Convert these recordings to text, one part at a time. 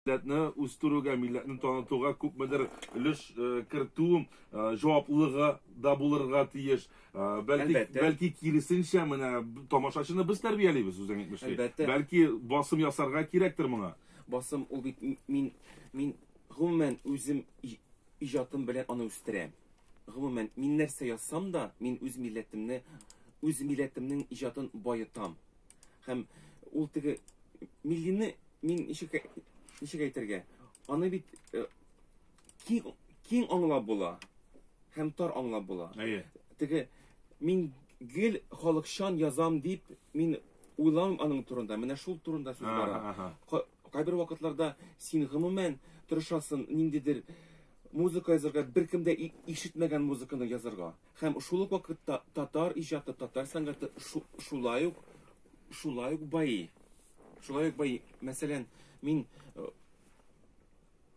Милләтне үстерүгә, милләтне танытуга күпмедер өлеш кертү җаваплылыгы да булырга тиеш. Бәлки, бәлки киресенчә, менә тамашачыны без тәрбиялибез, үзең әйтмешли. Бәлки басым ясарга кирәктер моңа? Басым, ул бит мин, мин гомумән үзем иҗатым белән аны үстерәм. Гомумән, мин нәрсә язсам да, мин үз милләтемне, үз милләтемнең иҗатын баетам. Һәм ул теге миллины мин ничек ничек әйтергә? Аны бит э, киң киң аңлап була һәм тар аңлап була. Әйе. Теге мин гел халыкчан язам дип мин уйлам аның турында. Менә шул турында сүз бара. Кайбер вакытларда син гомумән тырышасың ниндидер музыка язарга, беркем дә ишетмәгән музыканы язарга. Һәм шул ук вакытта татар иҗаты, татар сәнгате шулай ук, шулай ук байый. Шулай ук байый. Мәсәлән, мин э,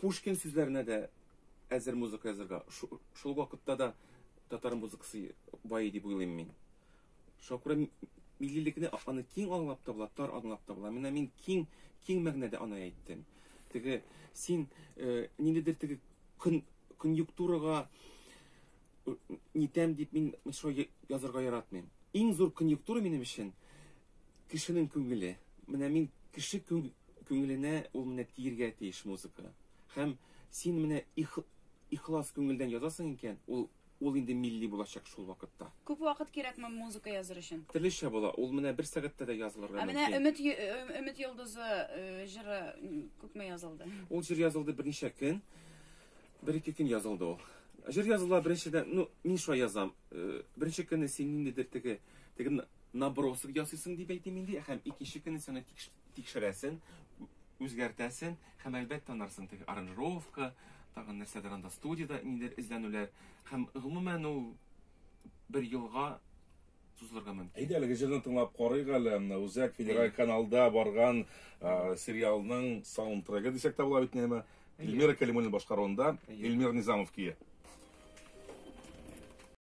Пушкин сүзләренә дә әзер музыка язырга. Шул вакытта да татар музыкасы байый дип уйлыйм мин. Шакура миллилекне аны киң аңлап та була, тар аңлап та була. Менә мин киң, киң мәгънәдә аны әйттем. Теге син э, ниндидер теге көн конъюнктурага нитәм дип мин шо язырга яратмыйм. Иң зур конъюнктура минем өчен кешенең күңеле. Менә мин кеше күңеленә ул менә тиергә тиеш музыка. Һәм син менә ихлас күңелдән язасың икән, ул ул инде милли булачак шул вакытта. Күп вакыт кирәкме музыка языр өчен? Төрлечә була, ул менә бер сәгатьтә дә язылырга мөмкин. Ә менә Өмет э, Өмет йолдызы э, җыры күпме язылды? Ул җыр язылды берничә көн. Бер-ике көн язылды ул. Җыр языла беренчедән, ну, мин шулай язам. Э, беренче көнне син ниндидер теге, теге набросок ясыйсың дип әйтим инде, һәм икенче көнне син аны тикшерәсең, үзгәртәсең, һәм әлбәттә танарсың теге аранжировка, тагын нәрсәдер анда студияда ниндидер эзләнүләр, һәм гомумән ул бер елга сузылырга мөмкин. Әйдә әлеге җырны тыңлап карыйк әле. Үзәк федераль каналда барган сериалның саундтрегы дисәк тә була бит нәмә. Эльмира Кәлимуллина башкаруында Эльмир Низамов кие.